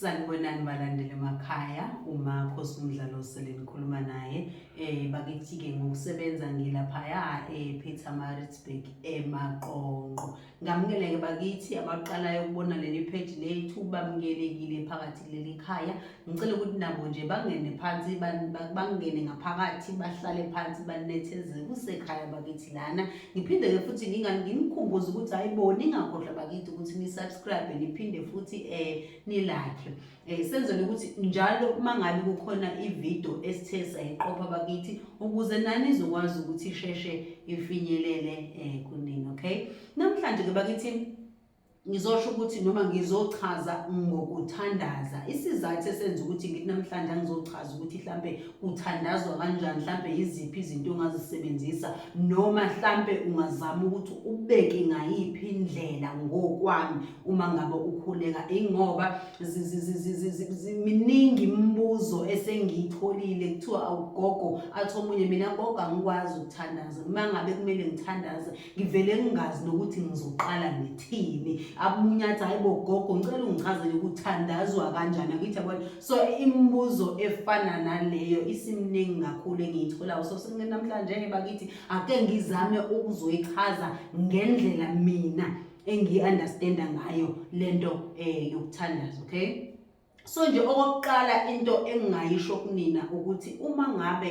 Sanibonani balandeli emakhaya umakho somdlalo sele nikhuluma naye eh bakithi-ke ngokusebenza ngilaphaya eh Peter Maritzburg emaqonqo ngamukeleke bakithi abaqalayo ukubona leli page lethu bamukelekile phakathi kuleli khaya ngicela ukuthi nabo nje bangene phansi bangene ngaphakathi bahlale phansi banethezeke kusekhaya bakithi lana ngiphinde-ke futhi nginikhumbuze ukuthi hhayi bo ningakhohlwa bakithi ukuthi ni-subscribe niphinde futhi um nilakhe um senzele ukuthi njalo uma ngabe kukhona ividiyo esithe sayiqopha bakithi ukuze nani izokwazi ukuthi isheshe ifinyelele um kunini okay namhlanje-ke bakithi ngizosho ukuthi noma ngizochaza ngokuthandaza isizathu esenza ukuthi ngithi namhlanje angizochaza ukuthi mhlampe kuthandazwa kanjani mhlampe yiziphi izinto ongazisebenzisa noma mhlampe ungazama ukuthi ubeke ngayiphi indlela ngokwami uma ngabe ukhuleka ingoba miningi imibuzo esengiyitholile kuthiwa awugogo athi omunye mina gogo angikwazi ukuthandaza uma ngabe kumele ngithandaze ngivele ngingazi nokuthi ngizoqala ngithini abunyatha hayibo gogo ngicela ungichazele ukuthandazwa kanjani akithi yabona so imibuzo efana naleyo isimningi kakhulu engiyitholayo so senamhlanje-ke bakithi ake ngizame ukuzoyichaza ngendlela mina engiyi-understanda ngayo le nto um yokuthandaza okay so nje okokuqala into engingayisho kunina ukuthi uma ngabe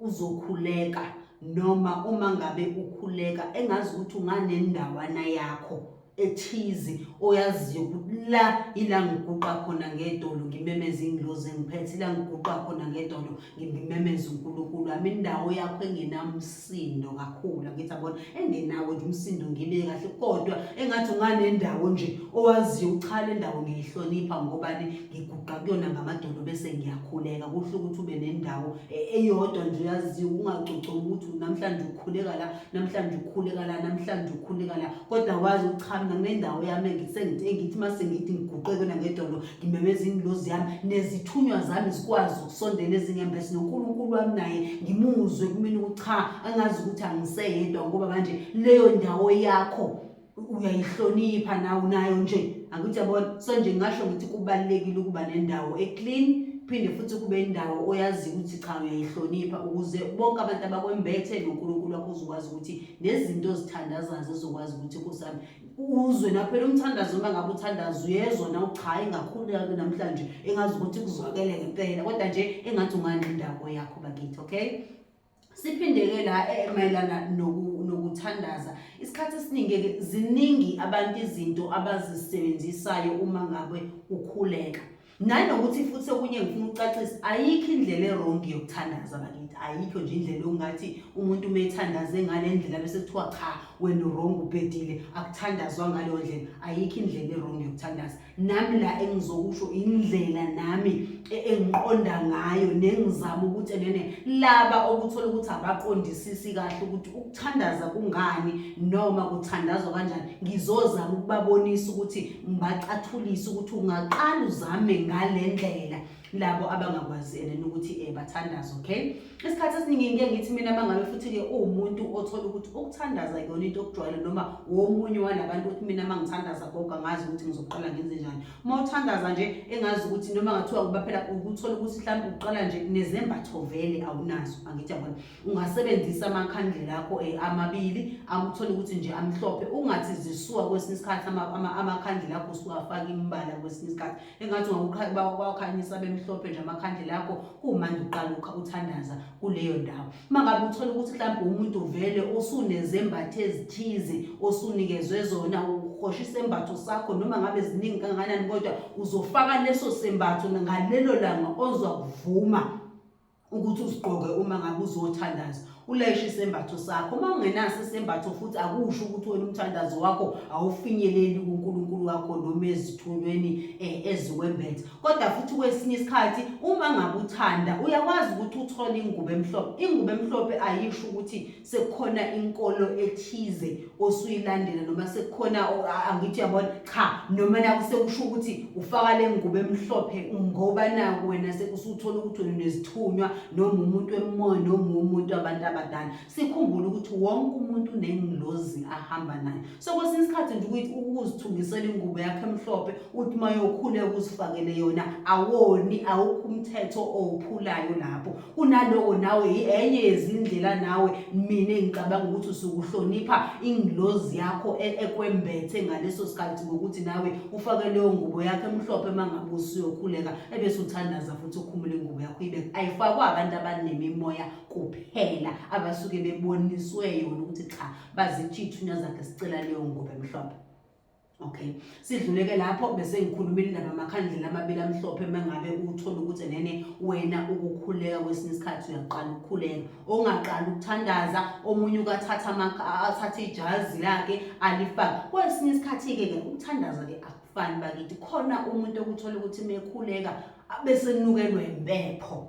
uzokhuleka noma uma ngabe ukhuleka engazi ukuthi unganendawana yakho ethize oyaziyo ukuthi la ila ngiguqa khona ngedolo ngimemeza ingilozi engiphethe ila ngiguqa khona ngedolo ngimemeza uNkulunkulu ami indawo yakho engenamsi sindo kakhulu angithi abona engenawo nje umsindo ngibe kahle kodwa engathi unganendawo nje owaziyo uchala indawo ngiyihlonipha ngobani ngiguqa kuyona ngamadolo bese ngiyakhuleka kuhle ukuthi ube nendawo e, eyodwa nje uyaziyo ungacoceki ukuthi namhlanje ukhuleka la namhlanje ukhuleka la namhlanje ukhuleka la kodwa wazi uchamna kunendawo yami engisengithi engithi mase ngithi ngiguqe kuyona ngedolo ngimemeza ingilozi yami nezithunywa zami zikwazi sondelwe ezingembesi noNkulunkulu wami naye ngimuzwe kumina ukuthi cha angazi ukuthi angiseyedwa ngoba manje leyo ndawo yakho uyayihlonipha nawe nayo nje angithi yabona so nje ngingasho ngithi kubalulekile ukuba nendawo eclean phinde futhi kube indawo oyaziyo ukuthi cha uyayihlonipha ukuze bonke abantu abakwembethe noNkulunkulu wakho uzokwazi ukuthi nezinto ozithandazayo zizokwazi ukuthi kusami uzwe naphela umthandazo uma ngabe uthandaza uyezwa na cha ingakhululeka namhlanje engazi ukuthi kuzwakele ngempela kodwa nje engathi ungandla indawo yakho bakithi okay siphindeke la eh, mayelana nokuthandaza isikhathi esiningi ziningi abantu izinto abazisebenzisayo uma ngabe ukhuleka nanokuthi futhi okunye ngifuna ukucacisa ayikho indlela erongi yokuthandaza bakithi ayikho nje indlela ongathi umuntu uma ethandaze ngale ndlela bese kuthiwa cha wena urongi ubhedile akuthandazwa ngaleyo ndlela ayikho indlela erongi yokuthandaza nami la engizokusho indlela nami e, engiqonda ngayo nengizama ukuthi enene laba okuthola ukuthi abaqondisisi kahle ukuthi Thandaza kungani noma kuthandazwa kanjani ngizozama ukubabonisa ukuthi ngibacathulise ukuthi ungaqala uzame ngale ndlela labo abangakwazi ena ukuthi eh bathandaza okay isikhathi esiningi ngeke ngithi mina mangabe futhi ke uwumuntu othola ukuthi ukuthandaza yona into okujwayele noma womunye walabantu ukuthi mina mangithandaza gogo angazi ukuthi ngizoqala ngenze njani uma uthandaza nje engazi ukuthi noma ngathiwa kuba phela ukuthola ukuthi mhlawumbe uqala nje nezembatho vele awunazo angithi yabona ungasebenzisa amakhandlela akho eh, amabili akuthole ukuthi nje amhlophe ungathi zisuka kwesinye isikhathi amakhandlela akho usuwafaka imbala kwesinye isikhathi engathi ungakukhanyisa bemhlophe nje amakhandlela akho kumanje uqala uthandaza kuleyo ndawo uma ngabe uthole ukuthi mhlawumbe umuntu uvele osunezembatho ezithize osunikezwe zona uhosha isembatho sakho noma ngabe ziningi kangakanani kodwa uzofaka leso sembatho ngalelo langa ozwa kuvuma ukuthi usigqoke uma ngabe uzothandaza ulayishe isembatho sakho uma ungenaso isembatho futhi akusho ukuthi wena umthandazo wakho awufinyeleli kuNkulunkulu wakho noma ezithunyweni eh, eziwembethe kodwa futhi kwesinye isikhathi uma ngabe uthanda uyakwazi ukuthi uthole ingubo emhlophe ingubo emhlophe ayisho ukuthi sekukhona inkolo ethize osuyilandela noma sekukhona angithi yabona cha noma naku sekusho ukuthi ufaka le ngubo emhlophe ngoba naku wena sekusuthola ukuthi wena unezithunywa noma umuntu emoya noma umuntu abantu abadala sikhumbule ukuthi wonke umuntu unengilozi ahamba nayo so kwesinye isikhathi nje ukuthi ukuzithungisela ingubo yakho emhlophe uthi uma yokhuleka uzifakele yona awoni awukho umthetho owuphulayo lapho kunaloko nawe enye yezindlela nawe mina engicabanga ukuthi usukuhlonipha ingilozi yakho e, ekwembethe ngaleso sikhathi ngokuthi nawe ufake leyo ngubo yakho emhlophe uma ngabe usuyokhuleka ebese uthandaza futhi ukhumule ingubo yakho ibe ayifakwa abantu abanemimoya kuphela abasuke beboniswe yona ukuthi cha bazithi ithunywa zakhe sicela leyo ngubo emhlophe okay sidluleke lapho bese ngikhuluma indaba amakhandlela amabili amhlophe uma ngabe uthole ukuthi nene wena ukukhuleka kwesinye isikhathi uyaqala ukukhuleka ongaqala ukuthandaza omunye ukathatha athathe ijazi lakhe alifake kwesinye isikhathi-ke ke ukuthandaza-ke akufani bakithi khona umuntu okuthola ukuthi mekhuleka bese nukelwe impepho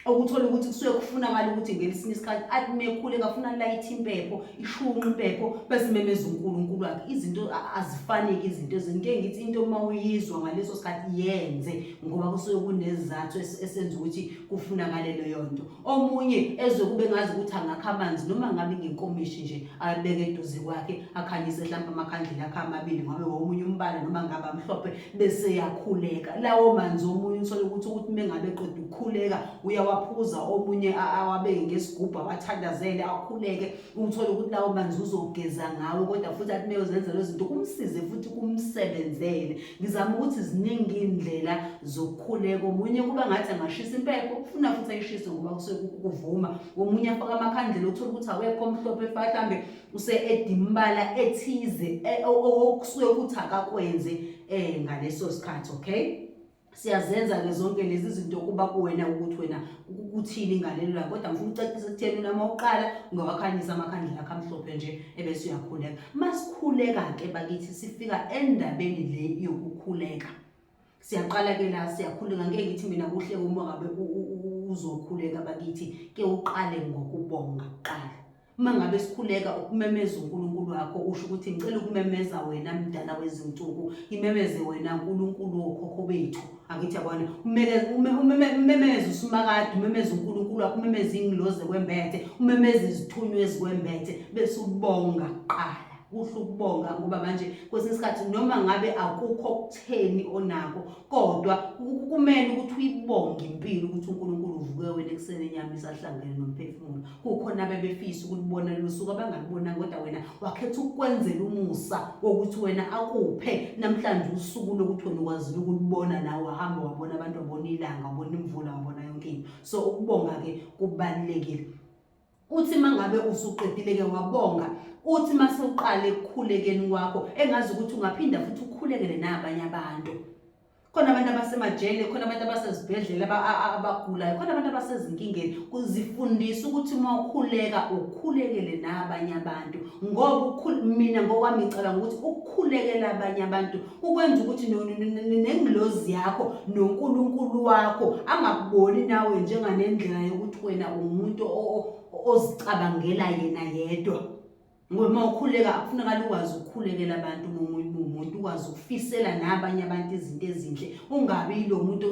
okuthola ukuthi kusuke kufunakala ukuthi ngelisini isikhathi athi mekhule kafuna light impepho ishunqa impepho bese memeza uNkulunkulu wakhe izinto azifaneki izinto ezinto engithi into uma uyizwa ngaleso sikhathi yenze ngoba kusuke kunezizathu esenza ukuthi kufunakale leyo nto omunye ezwe kube ngazi ukuthi angakha amanzi noma ngabe ngenkomishi nje abeke eduze kwakhe akhanyise mhlawumbe amakhandlela akhe amabili ngabe womunye umbala noma ngabe amhlophe bese yakhuleka lawo manzi omunye uthole ukuthi ukuthi mengabe qeda ukukhuleka uyawaphuza omunye awabeke ngesigubhu awathandazele akhuleke uthole ukuthi lawo manzi uzogeza ngawo kodwa futhi athi meyozenzela izinto kumsize futhi kumsebenzele ngizama ukuthi ziningi iy'ndlela zokukhuleka omunye kuba ngathi angashisa impepho ufuna futhi ayishise ngoba kusuke kuvuma omunye afake amakhandlela uthole ukuthi awekho omhlophe mhlawumbe use-edimbala ethize e, okusuke ukuthi akakwenze um ngaleso sikhathi okay siyazenza-ke zonke lezi zinto kuba kuwena ukuthi wena kuthini ngalelo lakho kodwa ngifuna ucacisa ekutheni unama uqala ungawakhanyisa amakhandlela akho amhlophe nje ebese uyakhuleka masikhuleka-ke bakithi sifika endabeni le yokukhuleka siyaqala ke la siyakhuleka ngeke ngithi mina kuhle uma ngabe uzokhuleka bakithi ke uqale ngokubonga kuqala uma ngabe sikhuleka ukumemeza uNkulunkulu wakho usho ukuthi ngicela ukumemeza wena mdala wezinsuku imemeze wena uNkulunkulu wokhokho bethu angithi yabona umemeza usumakade umemeza uNkulunkulu wakho umemeza ingiloze kwembethe umemeza izithunywa ezikwembethe bese ubonga kuqala kuhle ukubonga ngoba manje kwesinye isikhathi noma ngabe akukho okutheni onako kodwa kumele ukuthi uyibonge impilo ukuthi uNkulunkulu uvuke wena ekuseni enyama isahlangene nomphefumulo kukhona abebefisa ukulibona lusuku abangalibonanga kodwa wena wakhetha ukwenzela umusa wokuthi wena akuphe namhlanje usuku lokuthi wena ukwazile ukulibona nawe wahamba wabona abantu wabona ilanga wabona imvula wabona yonke into so ukubonga-ke kubalulekile uthi mangabe usuqedile-ke wabonga uthi mase uqale ekukhulekeni kwakho engazi ukuthi ungaphinda futhi ukhulekele nabanye abantu khona abantu abasemajele khona abantu abasezibhedlela abagulayo khona abantu abasezinkingeni kuzifundisa ukuthi uma ukhuleka ukhulekele nabanye abantu ngoba mina ngokwami ngicabanga ukuthi ukukhulekela abanye abantu ukwenza ukuthi nengilozi yakho nonkulunkulu wakho angakuboni nawe njenganendlela yokuthi wena umuntu ozicabangela yena yedwa ngoba uma ukhuleka kufunekala ukwazi ukukhulekela abantu umuntu ukwazi ukufisela nabanye abantu izinto ezinhle ungabi yilo muntu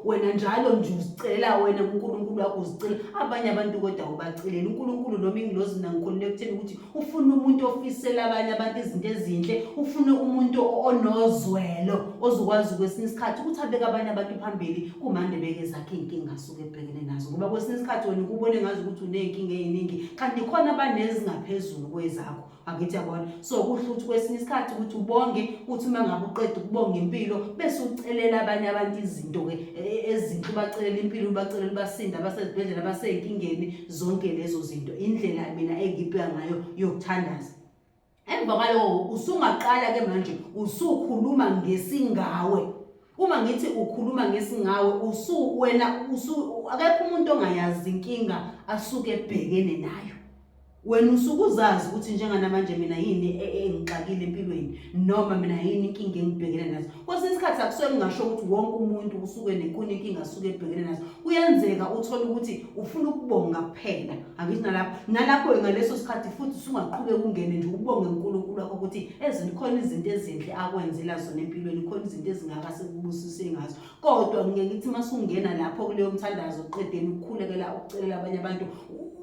wena njalo nje uzicelela wena unkulunkulu wakho uzicela abanye abantu kodwa ubacelela unkulunkulu noma ingilozi nangikhululeka ekutheni ukuthi ufuna umuntu ofisela abanye abantu izinto ezinhle ufuna umuntu onozwelo ozokwazi kwesinye isikhathi ukuthi abeke abanye abantu phambili kumande beke zakhe iy'nkinga asuke ebhekene nazo ngoba kwesinye isikhathi wena ukubone ngazi ukuthi uney'nkinga ey'ningi kanti khona abanezingaphezulu kwezakho angithi yabona so kuhle ukuthi kwesinye isikhathi ukuthi ubonge uthi uma ngabe uqeda ukubonga impilo bese ucelela abanye abantu izinto-ke e, e, ezinhle ubacelela impilo ubacelela ubasinda abasezibhedlela abasey'nkingeni zonke lezo zinto indlela mina engibheka ngayo yokuthandaza emva kwaloko usungaqala ke manje usukhuluma ngesingawe uma ngithi ukhuluma ngesingawe usu wena usu akekho umuntu ongayazi inkinga asuke ebhekene nayo wena usuke uzazi ukuthi njenganamanje mina yini e, e, engixakile empilweni noma mina yini inkinga engibhekene nazo kwesinye isikhathi akusuke kungasho ukuthi wonke umuntu usuke nenkuni inkinga asuke ebhekene nazo kuyenzeka uthole ukuthi ufuna ukubonga kuphela angithi nalapho nalapho ngaleso sikhathi futhi usungaqhubeka ungene nje ubonge unkulunkulu wakho ukuthi ezinto khona izinto ezinhle akwenzela zona empilweni khona izinto ezingaka sekubusise ngazo kodwa ngeke ngithi uma sungena lapho kuleyo mthandazo qedeni ukukhulekela ukucelela abanye abantu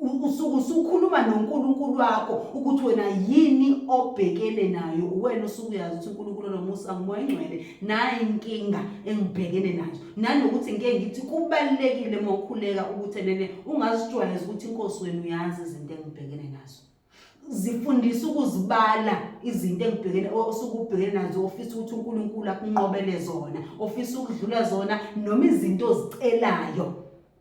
usuke usukhuluma noNkulunkulu wakho ukuthi wena yini obhekene nayo uwena usuke uyazi ukuthi uNkulunkulu nomusa ngumoya engcwele nayi inkinga engibhekene nayo nanokuthi ngeke ngithi kubalekile uma ukhuleka ukuthi nene ungazijwayeza ukuthi inkosi wenu uyazi izinto engibhekene nazo zifundisa ukuzibala izinto engibhekene osuke ubhekene nazo ofisa ukuthi uNkulunkulu akunqobele zona ofisa ukudlula zona noma izinto ozicelayo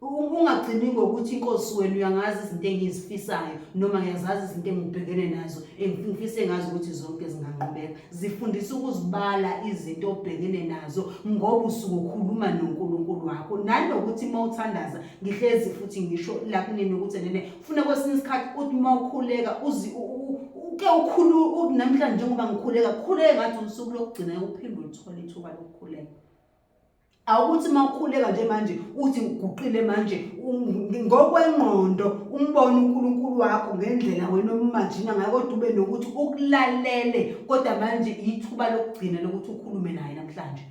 ungagcini ngokuthi inkosi wenu uyangazi izinto engizifisayo noma ngiyazazi izinto engibhekene nazo engifise ngazi ukuthi zonke zinganqobeka zifundisa ukuzibala izinto obhekene nazo ngoba usuke ukhuluma noNkulunkulu wakho nanokuthi uma uthandaza ngihlezi futhi ngisho lakunini ukuthi nene funa kwesinye isikhathi uthi uma ukhuleka uzi uke ukhulu namhlanje njengoba ngikhuleka khuleke ngathi usuku lokugcina uphinde uthole ithuba lokukhuleka awukuthi uma ukhuleka nje manje uthi ngiguqile manje ngokwengqondo umbone uNkulunkulu wakho ngendlela wena omimajina ngayo kodwa ube nokuthi ukulalele kodwa manje ithuba lokugcina lokuthi ukhulume naye namhlanje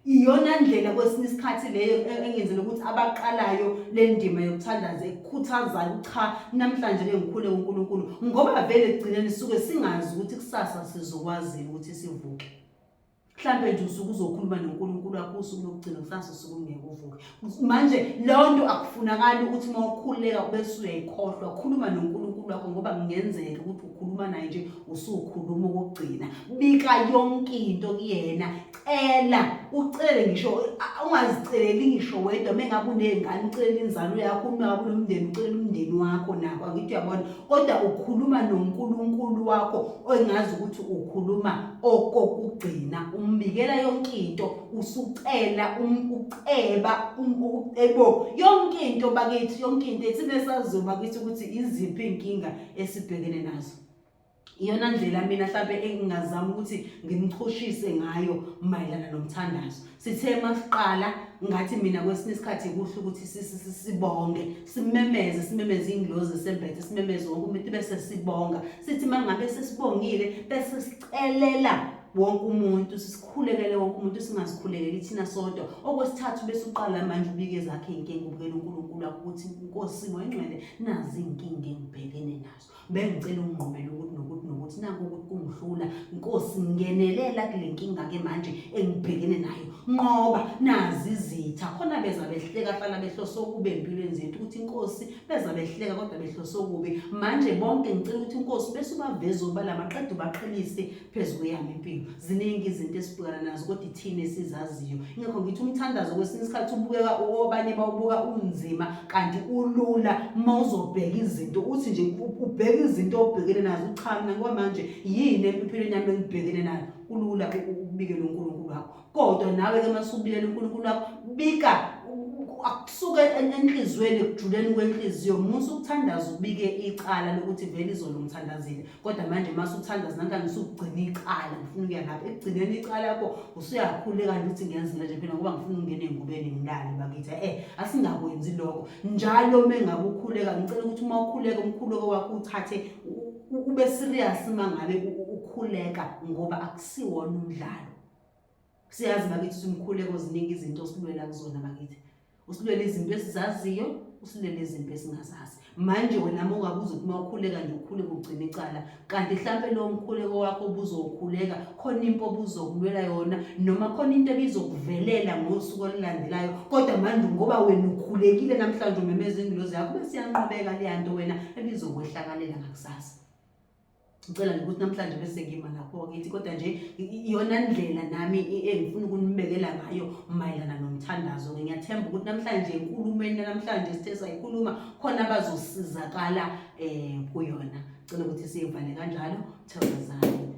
iyona ndlela kwesinye isikhathi leyo e-, engenzela ukuthi abaqalayo le ndima yokuthandaza ekukhuthazayo cha namhlanje ngikhule uNkulunkulu ngoba vele ekugcineni suke singazi ukuthi kusasa sizokwazi ukuthi sivuke mhlambe nje usuke uzokhuluma noNkulunkulu wakho usuku lokugcina kusasa usuku ungeke uvuke manje leyo nto akufunakali ukuthi uma ukhululeka kube suyayikhohlwa khuluma nonkulunkulu wakho ngoba kungenzeka ukuthi ukhuluma naye nje usukhuluma ukugcina bika yonke into kuyena cela ucele ngisho ungaziceleli ngisho wedwa uma engabe uney'ngane ucelela inzalo yakho uma ngabe unomndeni ucelela umndeni wakho nako angithi uyabona kodwa ukhuluma nonkulunkulu wakho ongazi ukuthi ukhuluma okokugcina umbikela yonke into usucela um, uceba um, ucebo yonke into bakithi yonke into ethina sazoba kithi ukuthi iziphi inkinga esibhekene nazo iyona ndlela mina mhlawumbe engingazama ukuthi ngimchushise ngayo mayelana nomthandazo sithe masiqala ngathi mina kwesinye isikhathi kuhle ukuthi sibonge simemeze simemeze inglozi esembethe simemeze wonke umuntu bese sibonga sithi mangabe sesibongile bese sicelela wonke umuntu sisikhulekele wonke umuntu singazikhulekeli thina sodwa okwesithathu bese uqala manje ubike zakhe inkinga ubukela uNkulunkulu akho ukuthi inkosi ngoyingcwele nazi inkinga engibhekene nazo bengicela ungqomela ukuthi nokuthi nokuthi naku ukuthi kungihlula inkosi ngenelela kule nkinga ke manje engibhekene nayo nqoba nazi izitha khona beza behleka fana behlose okubi empilweni zethu ukuthi inkosi beza behleka kodwa behlose okubi manje bonke ngicela ukuthi inkosi bese ubaveza obala maqede ubaqhelise phezu kweyami impilo ziningi izinto esibhekana nazo kodwa ithina esizaziyo ingakho ngithi umthandazo kwesinye isikhathi ubukeka obanye bawubuka unzima kanti ulula uma uzobheka izinto uthi nje ubheke izinto obhekene nazo cha mina ngoba manje yini empilweni yami engibhekene nayo kulula ukubikela unkulunkulu wakho kodwa nawe-ke uma subikela unkulunkulu wakho bika akusuke enhliziyweni ekujuleni kwenhliziyo musa ukuthandaza ubike icala lokuthi vele izolo ngithandazile kodwa manje uma suthandaza nanka ngisukugcina icala ngifuna ukuya lapho ekugcineni icala yakho usuyakhuleka nje ukuthi ngiyenzile nje phela ngoba ngifuna ukungena engubeni ngilale bakithi eh asingakwenzi lokho njalo uma engabe ukhuleka ngicela ukuthi uma ukhuleka umkhuleko wakho uthathe ube serious uma ngabe ukhuleka ngoba akusiwona umdlalo siyazi bakithi simkhuleko ziningi izinto osilwela kuzona bakithi usilwela izinto esizaziyo usilele izinto esingazazi manje wena uma ungabuza ukuthi uma ukhuleka nje ukhule kugcina icala kanti hlampe lowo mkhuleko wakho obuzokhuleka khona impi obuzokulwela yona noma khona into ebizokuvelela ngosuku olulandelayo kodwa manje ngoba wena ukhulekile namhlanje umemeza ingilozi yakho besiyanqobeka leya nto wena ebizokwehlakalela ngakusasa ngicela nje ukuthi namhlanje bese ngima lapho ngithi kodwa nje iyona ndlela nami engifuna ukunibekela ngayo mayelana nomthandazo ngiyathemba ukuthi namhlanje enkulumeni namhlanje sithe sayikhuluma khona abazosizakala um kuyona cela ukuthi siyivale kanjalo thokozani